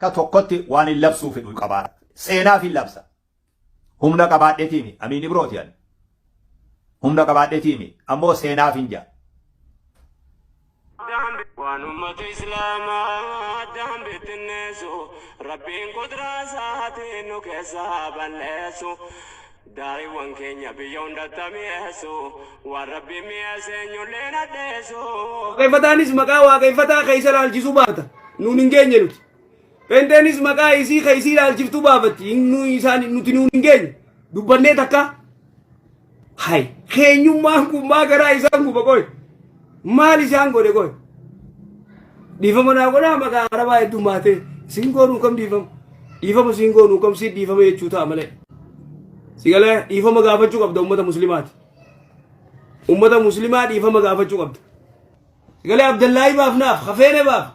Akka tokkotti waanin labsuu fedhu qabaadha. Seenaafin labsa. Humna qabaadhetiimi. Amiin Ibrooti ani. Humna qabaadhetiimi. Ammoo seenaafin jaa. Waan ummata Islaamaa addaan bittinneessu Rabbiin qudraa isaatiin nu keessaa balleessu. Daariiwwan keenya biyya hundatti haa mi'eessu, waan Rabbiin mi'eesse eenyullee hin hadheessu. Waaqeffataanis maqaa Waaqeffataa ka isa laalchisu baafata, nuun hin geenye nuti. Pheenxeenis maqaa isii ka isii laalchiftu baafatti, hin- nu- isaan- nuti nuun hin geenye. Dubbannee takkaa? Hay! Keenyummaan kun maa garaa isaan guba qoy? Maal isaan godhe qoy? Dhiifama naa godhaa maqaa arabaa heddummaatee siin goonuu kam dhiifama? Dhiifama siin goonuu kam siit dhiifama jechuu ta'a malee. Sigalee dhiifama gaafachuu qabda uummata muslimaati. Uummata muslimaa dhiifama gaafachuu qabda. Sigalee Abdallaahii baaf naaf hafeene baaf.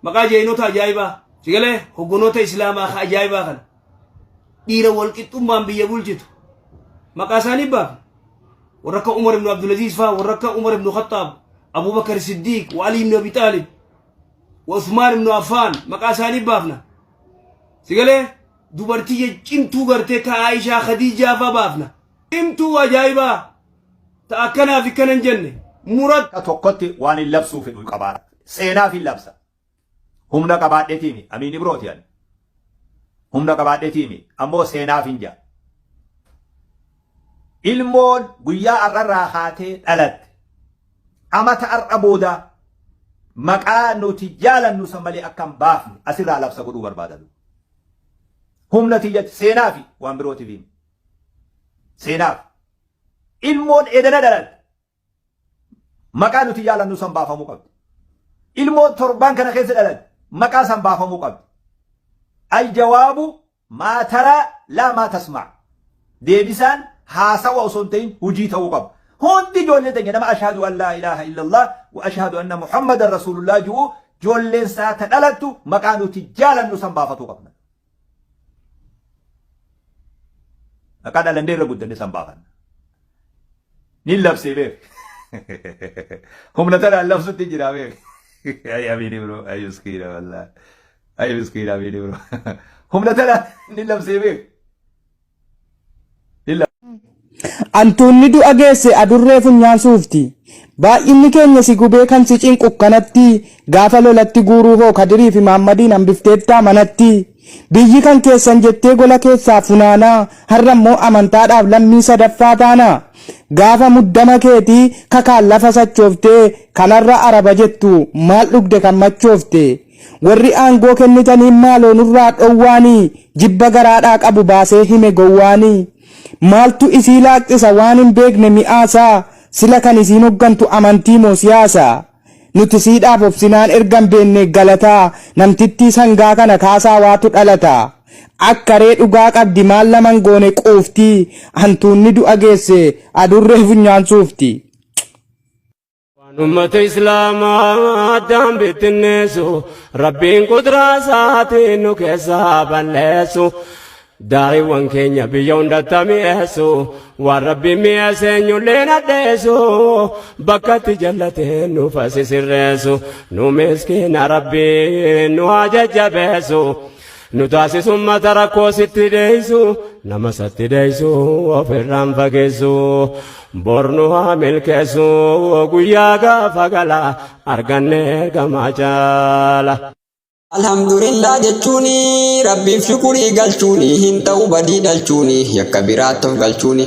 Maqaa jaynota ajaa'ibaa sigalee hoggonoota islaamaa ka ajaa'ibaa kana dhiira walqixxummaan biyya bulchitu maqaa isaanii baafne warra akka Umar ibn Abdulaziz faa warra akka Umar ibn Khattaab Abubakar Siddiiq wa Ali ibn Abi Taalib wa Usmaan ibn Affaan maqaa isaanii baafna sigalee dubartii cimtuu gartee ka Aishaa Khadiijaa faa baafna cimtuu ajaa'ibaa ta akkanaaf ikkanan jenne murat tokkotti waan hin labsuu fedhu qabaadha. Seenaaf hin labsa. Humna qabaadhetiimi. Amiin Ibrooti ani. Humna qabaadhetiimi. Ammoo seenaaf hin jaa. Ilmoon guyyaa har'arraa haatee dhalatte. Amata har'a booda maqaa nuti jaalannu san malee akka hin baafne asirraa labsa godhuu barbaadadu. Humna tiyyatti seenaa fi waan birootiif himi. Seenaaf. Ilmoon edana dhalatte. Maqaa nuti jaalannu san baafamuu qabdi. Ilmoo torbaan kana keessa dhalate maqaa san baafamuu qabdi. Aljawaabu maa taraa laa maa tasmaa. Deebisaan haasawa osoo hin ta'in hujii ta'uu qaba. Hundi ijoollee teenya nama ashhadu an laa ilaaha illallah wa ashhadu anna muhammadan rasuulullah ju'u ijoolleen isaa ta dhalattu maqaa nuti jaalannu san baafatuu qabna. Akka dhalannee irra guddanne san baafanna. Ni labsee beek. Humna tanaan labsutti jira beek. Ay amiini bro ay miskiina wallaahi. Ay miskiina amiini bro. Humna tanaan ni labsee beek. Antuunni du'a geesse adurree funyaan suufti. Baay'inni keenya si gubee kan si cinqu kanatti gaafa lolatti guuruu hoo Kadirii fi Maammadiin hambifteettaa manatti? Biyyi kan keessan jettee gola keessaa funaanaa har'a immoo amantaadhaaf lammii sadaffaa taana? Gaafa muddama keetii kakaan lafa sachooftee kan har'a araba jettu maal dhugde kan machoofte? Warri aangoo kennitaniin maaloo nurraa dhowwaanii jibba garaadhaa qabu baasee hime gowwaanii. Maaltu isii laaqxisa waan hin beekne mi'aasaa sila kan isiin hoggantu amantii moo siyaasa? Nuti siidhaaf obsinaan erga hin beennee galataa namtittii sangaa kana kaasaa waatu dhalata. Akka ree dhugaa qabdi maal nama hin goone quufti hantuunni du'a geesse adurree funyaan suufti. Waan ummata islaamaa addaan bittinneessu rabbiin qudraa isaatiin nu keessaa balleessu daa'iiwwan keenya biyya hundatti mi'eessu waan rabbiin mi'eesse eenyulleen addeessu bakka itti jallateen nu fasisirreessu nu miskiina rabbiin nu haa jajjabeessu. nu taasisu ummata rakkoo sitti deeysu nama satti deeysu ofirraan fageessu bornu haa milkeessu guyyaa gaafa gala arganne gamaa caala. Alhamdulillah jechuuni rabbiif shukurii galchuuni hin ta'u badii dhalchuuni yakka biraatti of galchuuni.